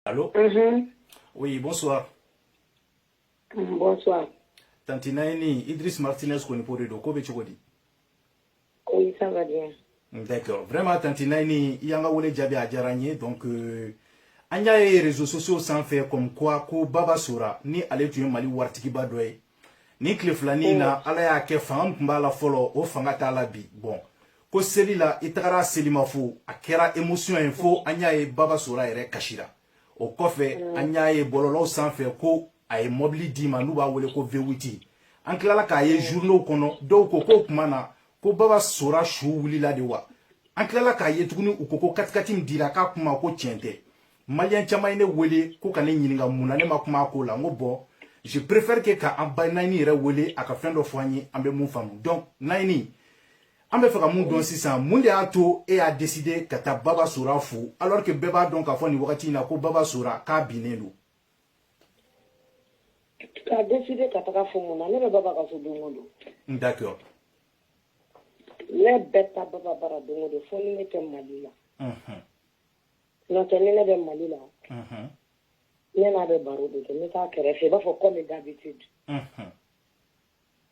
Allô mm -hmm. Oui, bonsoir. Mm, bonsoir. Tanti Naini, Idriss Martinez Konipo de don, ko bɛ cogo di? Oui, ça va bien. Mm, d'accord. Vraiment, Tanti Naini, i y'an ka wele jaabi a diyara an ye donc euh, an y'a ye réseaux sociaux sanfɛ comme quoi ko Baba Sora ni ale tun ye Mali waritigiba dɔ ye ni tile fila nin na ala y'a kɛ fanga min tun b'a la fɔlɔ o fanga t'a la bi bon ko seli la i tagara selimafo a kɛra émotion ye fo an y'a ye baba sora yɛrɛ kasira o kɔfɛ mm. an y'a ye bɔlɔlɔw sanfɛ ko a ye mɔbili d'i ma n'u b'a wele ko vewiti an tilala k'a ye mm. journaux kɔnɔ dɔw ko k'o tuma na ko baba sora su wulila de wa an tilala k'a ye tuguni u ko ko katikati min dira k'a kuma ko tiɲɛ tɛ maliyɛn caman ye ne wele ko ka ne ɲininka mun na ne ma kuma a ko la n ko bon je préfère que ka an ba naini yɛrɛ wele a ka fɛn dɔ fɔ an ye an bɛ mun faamu donc naini an bɛ fɛ ka mun dɔn sisan mun de y'a to e y'a décider ka taa baba sora fo alors que bɛɛ b'a dɔn k'a fɔ nin wagati in na ko baba sora k'a binnen don k'a décider ka taga a fo mun na ne bɛ baba ka so don o don hmm, d'accord ne bɛ taa baba bara don o don fo ni ne tɛ mali la Nɔtɛ ni ne bɛ mali la ne n'a bɛ baro de kɛ ne t'a kɛrɛfɛ i b'a fɔ komi n dabi te di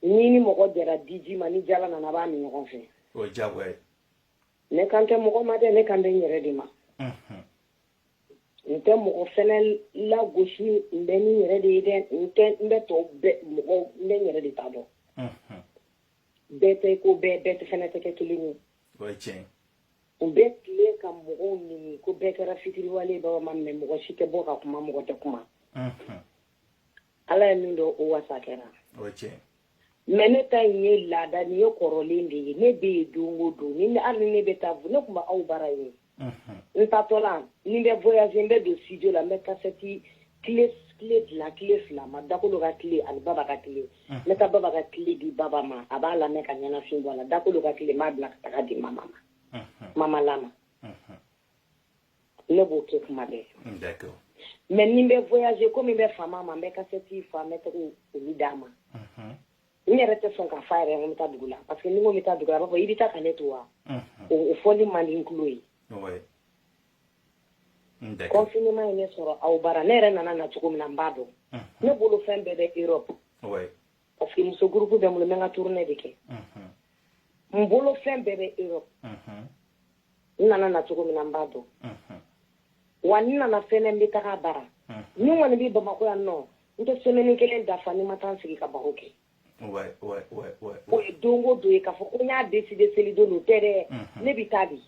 ni ni mɔgɔ jɛra diji ma ni jala nana b'a min ɲɔgɔn fɛ ne kan tɛ mɔgɔ ma dɛ ne kan bɛ n yɛrɛ de ma n tɛ mɔgɔ fana lagosi n bɛ n yɛrɛ de ye dɛ n tɛ n bɛ tɔ mɔgɔ n bɛ n yɛrɛ de ta dɔn bɛɛ tɛ ko bɛɛ bɛɛ tɛ fana tɛ kɛ kelen ye o ye tiɲɛ u bɛ tila ka mɔgɔw nɛni ko bɛɛ kɛra fitiriwale baba ma mɛ mɔgɔ si tɛ bɔ ka kuma mɔgɔ tɛ kuma ala ye min dɔn o wasa kɛra o ye tiɲɛ mais ne ta in ye laada ni ye kɔrɔlen de ye ne bɛ yen don o don ni hali ne bɛ taa ne tun bɛ aw bara yen n taatɔla ni n bɛ voyage n bɛ don studio la n bɛ kasɛti kile kile fila kile fila ma dakolo ka kile ani baba ka kile n bɛ taa baba ka kile di baba ma a b'a lamɛn ka ɲɛnafin bɔ a la dakolo ka kile n b'a bila ka taga a di mama ma mama lama ne b'o kɛ kuma bɛɛ mais ni n bɛ voyage komi n bɛ fama a ma n bɛ kasɛti fa n bɛ taga olu d'a ma n yɛrɛ tɛ sɔn k'a fɔ yɛrɛ n bɛ taa dugu la parce que ni n ko n bɛ taa dugu a b'a fɔ i bɛ taa ka ne to wa o fɔli man di tulo ye kɔfinima ye ne sɔrɔ aw bara ne yɛrɛ nana na cogo min na n b'a dɔn ne bolo fɛn bɛɛ bɛ e parce que muso gurupu bɛ n bolo n ka tournée de kɛ n bolo fɛn bɛɛ bɛ e n nana na cogo min na n b'a dɔn wa n nana fɛn n bɛ taa bara min kɔni bɛ bamakɔ yan nɔ n tɛ semɛni kelen dafa ni n ma taa sigi ka baro kɛ o ye don o don ye k'a fɔ ko n y'a deside seli don dɔrɔn tɛ dɛ mhm. ne bɛ taa di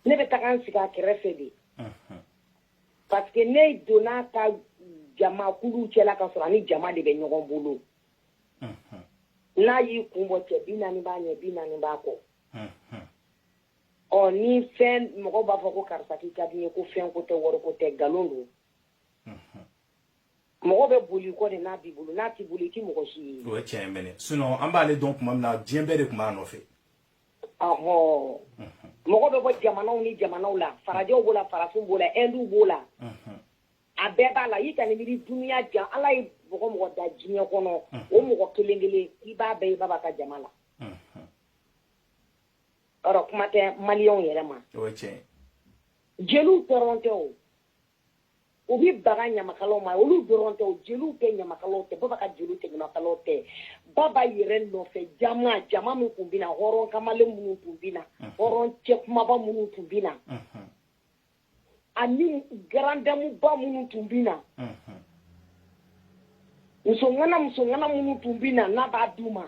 ne bɛ taga n sigi a kɛrɛfɛ de mhm. parce que ne donna a ka jama kulu cɛla k'a sɔrɔ a ni jama de bɛ ɲɔgɔn bolo mhm. n'a y'i kun bɔ cɛ bi naani b'a ɲɛ bi naani b'a kɔ ɔ ni fɛn mɔgɔ b'a fɔ ko karisa k'i ka di n ye ko fɛn ko tɛ wari ko tɛ nkalon don mɔgɔ bɛ boli kɔ de n'a b'i bolo n'a t'i bolo i ti mɔgɔ si ye o ye tiɲɛ mɛnɛ sinon an b'ale dɔn tuma min na diɲɛ bɛɛ de tun b'a nɔfɛ ɔhɔ mɔgɔ bɛ bɔ jamanaw ni jamanaw la farajɛw b'o la farafinw b'o la ɛndiw b'o la a bɛɛ b'a la i ka nin miiri dunuya jan ala ye mɔgɔ mɔgɔ da diɲɛ kɔnɔ o mɔgɔ kelen kelen i b'a bɛɛ ye baba ka jama la o rɔ kuma tɛ maliyɛnw yɛrɛ ma jeliw dɔrɔn tɛ o u bɛ baga ɲamakalaw ma olu dɔrɔn tɛ o jeliw tɛ ɲamakalaw tɛ baba ka jeliw tɛ ɲamakalaw tɛ baba yɛrɛ nɔfɛ jama jama min tun bɛ na hɔrɔn kamalen minnu tun bɛ na hɔrɔn cɛ kumaba minnu tun bɛ na ani garandamuba minnu tun bɛ na musoŋana musoŋana minnu tun bɛ na n'a b'a d'u ma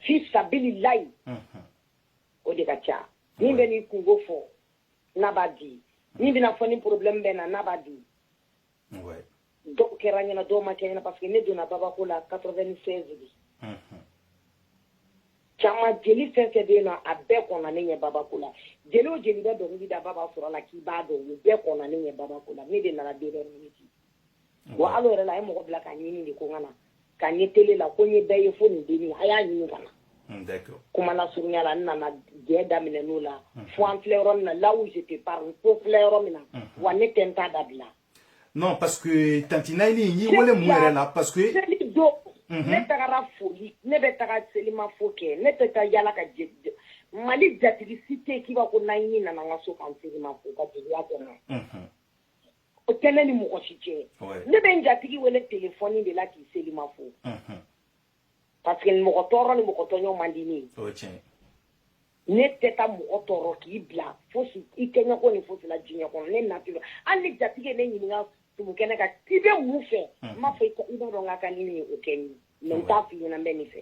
fi sabili layi o de ka ca min bɛ n'i kunko fɔ n'a b'a di min bɛ n'a fɔ nin porobilɛmu bɛ n na n'a b'a di dɔw kɛra n ɲɛna dɔw ma kɛ n ɲɛna parce que ne donna baba ko la 96 de caman jeli fɛn o fɛn bɛ yen nɔ a bɛɛ kɔnna ne ɲɛ baba ko la jeli o jeli bɛ dɔnkili da baba sora la k'i b'a dɔn u bɛɛ kɔnna ne ɲɛ baba ko la ne de nana dernière minute wa hali o yɛrɛ la a ye mɔgɔ bila ka n ɲini de ko n ka na ka n ye tele la ko n ye bɛɛ ye fo nin denni a y'a ɲini a ka na hmm, kuma lasurunya la n nana jɛ daminɛ n'o la hmm. fo an filɛ yɔrɔ min na là où je te parle fo filɛ yɔrɔ min na hmm. wa ne tɛ n ta dabila non parce que tanti nayini n y'i wele mun yɛrɛ la parce que seli don ne tagara foli ne bɛ taga selimafo kɛ ne tɛ taa yaala ka mali jatigi si tɛ k'i b'a ko nayini nana n ka so kan selimafo n ka jeliya kɔnɔ o tɛ ne ni mɔgɔ si cɛ ne bɛ n jatigi wele telefɔni de la k'i selima fo parce que mɔgɔ tɔɔrɔ ni mɔgɔ tɔɲɔ man di ne ye ne tɛ taa mɔgɔ tɔɔrɔ k'i bila foyi kɛ n ye kɔni fosi la diɲɛ kɔnɔ ne nature hali ni jatigi ye ne ɲininka tumukɛ ne ka i bɛ mun fɛ n b'a fɔ i b'a dɔn n ka kan ni min ye o kɛ n ye mais n t'a fɔ i ɲɛna n bɛ nin fɛ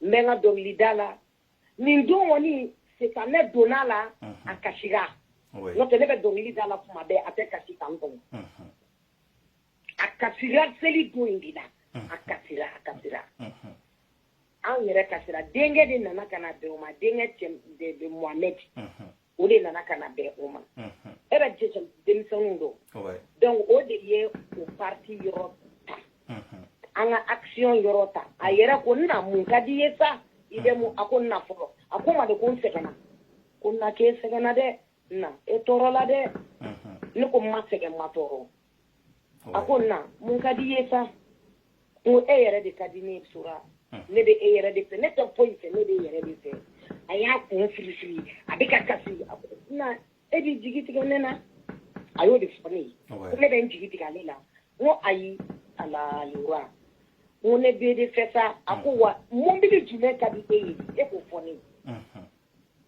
n bɛ n ka dɔnkilida la nin don kɔni sitanɛ donna la a kasira n'o tɛ ne bɛ dɔnkili da la kuma bɛɛ a tɛ kasi kan kɔnɔ a kasira seli don in de la a kasira a kasira anw yɛrɛ kasira denkɛ de nana ka na bɛn o ma denkɛ cɛ de Mohamed o de nana ka na bɛn o ma era jɛjɛ denmisɛnninw don donc o de ye o parti yɔrɔ ta an ka action yɔrɔ ta a yɛrɛ ko na mun ka di i ye sa i bɛ mun a ko na fɔlɔ a ko ma de ko n sɛgɛnna ko na k'e sɛgɛnna dɛ na e tɔɔrɔla dɛ ne ko n ma sɛgɛn n ma tɔɔrɔ a ko na mun ka di i ye sa n ko e yɛrɛ de ka di ne sora ne bɛ e yɛrɛ de fɛ ne tɛ foyi fɛ ne bɛ e yɛrɛ de fɛ a y'a kun firi firi a bɛ ka kasi a ko na e b'i jigi tigɛ ne na a y'o de fɔ ne ye ko ne bɛ n jigi tigɛ ale la n ko ayi ala lewa n ko ne b'e de fɛ sa a ko wa mobili jumɛn ka di e ye e k'o fɔ ne ye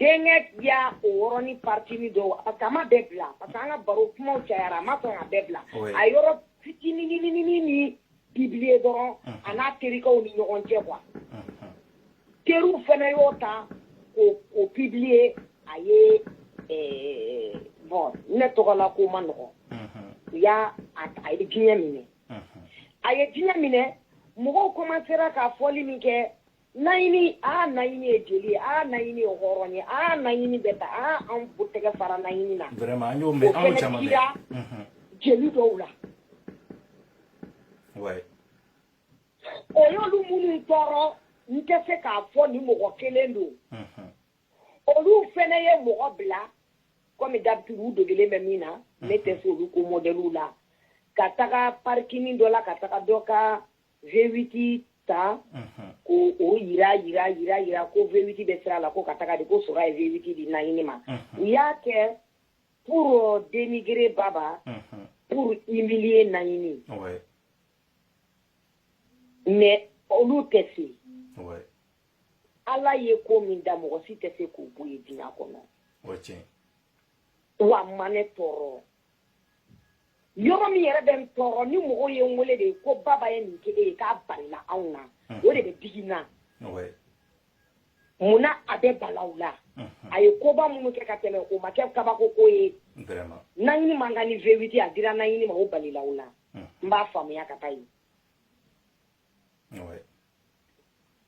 Donc a ye o yɔrɔnin parti nin don parce que a ma bɛɛ bila parce que an ka baro kuma cayara a ma sɔn a bɛɛ bila a yɔrɔ fitininin nin publier dɔrɔn a n'a terikɛw ni ɲɔgɔn cɛ quoi teriw fana y'o ta k'o publier a ye bon ne tɔgɔ la ko ma nɔgɔ u y'a a ye diɲɛ minɛ a ye diɲɛ minɛ mɔgɔw komansera ka fɔli min kɛ naɲini aa naɲini ye jeli ye aa naɲini ye hɔrɔn ye aa naɲini bɛ ta aa an bu tɛgɛ fara naɲini na vraiment an y'o mɛn an y'o caman mɛn jeli dɔw la ouais o y'olu minnu tɔɔrɔ n tɛ se k'a fɔ ni mɔgɔ kelen don olu fɛnɛ ye mɔgɔ bila comme d'habitude u degelen bɛ min na ne tɛ se olu ko mɔgɔ dɔw bila ka taga parikini dɔ la ka taga dɔ ka vewiti ta k'o jira jira jira jira ko vewiti bɛ sira la ko ka taga di ko sora ye vewiti di naɲini ma u y'a kɛ pour dénigrer baba pour humilier naɲini mais olu tɛ se ala ye ko min da mɔgɔ si tɛ se k'o bɔ yen diɲɛ kɔnɔ wa a ma ne tɔɔrɔ yɔrɔ min yɛrɛ bɛ n tɔɔrɔ ni mɔgɔw ye n wele de ko baba ye nin kɛ e ye k'a balila anw na o de bɛ digi n na mun na a bɛ bala u la a ye koba minnu kɛ ka tɛmɛ o ma kɛ kabako ko ye naɲini man kan ni vewiti a dira naɲini ma o balila u la n b'a faamuya ka taa yen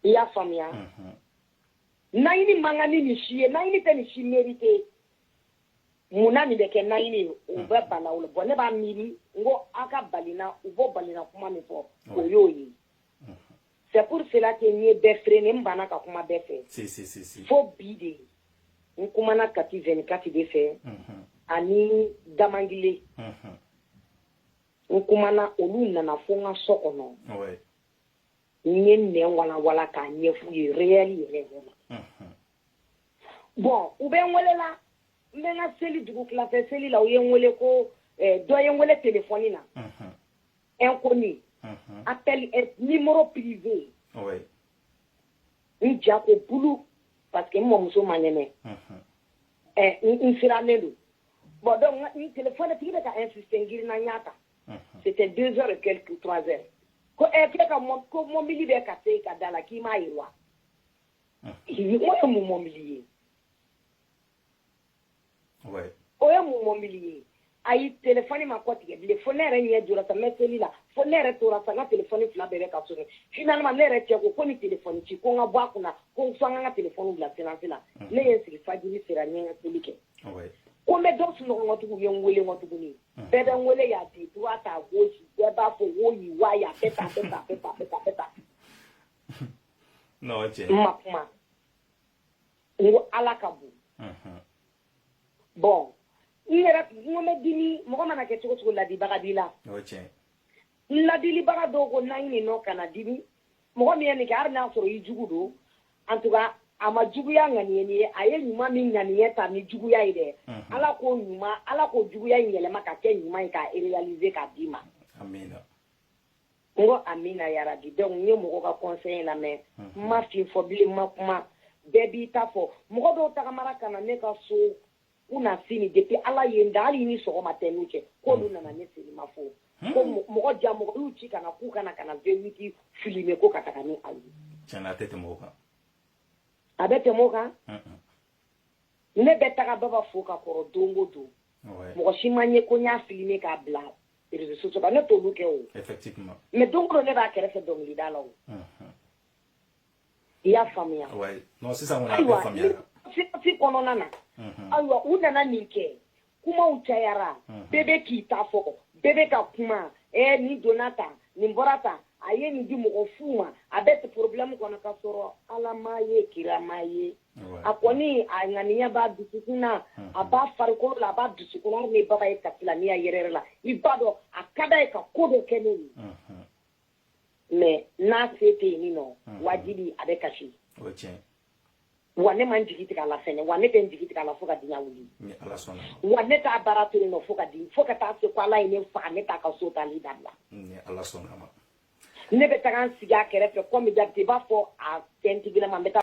i y'a faamuya naɲini man kan ni nin si ye naɲini tɛ nin si merite mun na nin bɛ kɛ naɲini ye o bɛ hmm. bala u la bon ne b'a miiri n ko aw ka balina u b'o balina kuma min fɔ hmm. o y'o ye hmm. c'est pour cela que n ye bɛɛ freiner n banna ka kuma bɛɛ fɛ fo bi de n kumana kati vingt-quatre de fɛ ani damangile n kumana olu nana fo n ka so kɔnɔ n ye nin walawala k'a ɲɛfɔ u ye réel yɛrɛ yɛrɛ ma bɔn u bɛ n welela n bɛ n ka seli dugutila fɛ seli la u ye n wele ko eh, dɔ ye n wele telefɔni na inconnu appel numéro privé n ja ko bulu parce que n mɔmuso man kɛnɛ eh, n sirannen don bɔn donc n telefɔni tigi bɛ ka insiste n girinna n y'a ta c'était deux heures et quelques trois heures ko eh, k'e ka ko mɔbili bɛ ka se i ka da la k'i m'a ye wa Sigi o ye mun mɔbili ye o ye mun mɔbili ye a ye telefɔni ma kɔ tigɛ bilen fo ne yɛrɛ ɲɛ jɔ ka mɛ seli la fo ne yɛrɛ tora ka ka telefɔni fila bɛɛ ka so ne yɛrɛ cɛ ko ko ni tele ci ko n ka bɔ a kunna ko fo ka tele bila silence la ne ye sigi fajiri sera n ye seli kɛ ko n bɛ dɔ sunɔgɔtigiw ye n weele ma tuguni bɛɛ bɛ n weele y'a di b'a fɔ wo wa n'o cɛ n ma kuma n ko ala ka bon bɔn n yɛrɛ n ko n bɛ dimi mɔgɔ mana kɛ cogo cogo laadibaga b'i la n laadilibaga dɔw ko n'an nin nɔ kana dimi mɔgɔ min ye nin kɛ hali n'a sɔrɔ i jugu don an tuba a ma juguya ŋaniye nin ye a ye ɲuman min ŋaniye ta ni juguya ye dɛ ala k'o ɲuman ala k'o juguya in yɛlɛma ka kɛ ɲuman ye k'a réaliser k'a d'i ma n ko amina yarabi donc n ye mɔgɔ ka conseil lamɛn n ma fɛn fɔ bilen n ma kuma bɛɛ b'i ta fɔ mɔgɔ dɔw tagamara ka na ne ka so kunasini depuis ala ye n da hali i ni sɔgɔma tɛ n n'u cɛ k'olu nana ne sini ma fo ko mɔgɔ jaa mɔgɔ y'u ci ka na k'u ka na ka na voiture filmer ko ka taga ni a ye tiɲɛ na a tɛ tɛmɛ o kan a bɛ tɛmɛ o kan ne bɛ taga baba fo ka kɔrɔ don o don mɔgɔ si m'a ye ko n y'a filmer k'a bila réseaux sociaux kan ne t'olu kɛ o mais don o don ne b'a kɛrɛfɛ dɔnkilida la o i y'a faamuya ayiwa fi kɔnɔna na ayiwa u nana nin kɛ kumaw cayara bɛɛ bɛ k'i ta fɔ bɛɛ bɛ ka kuma ɛɛ nin donna tan nin bɔra tan a ye nin di mɔgɔ fu ma a bɛ to problème kɔnɔ ka sɔrɔ alama ye kirama ye a kɔni a ŋaniya b'a dusukun na a b'a farikolo la a b'a dusukun na n'i baba ye k'a filɛ a ɲɛ yɛrɛ la i b'a dɔn a ka d'a ye ka ko dɔ kɛ ne ye mais n'a se tɛ yen nɔ wajibi a bɛ kasi wa ne ma n jigi tig'a la fana wa ne tɛ n jigi tig'a la fo ka diɲɛ wuli wa ne t'a baara to fo ka di fo ka taa se ko ala ye ne faga ne t'a ka so taali dabila ne bɛ taa n sigi a kɛrɛfɛ fɛ ko b'a fɔ a fɛn ma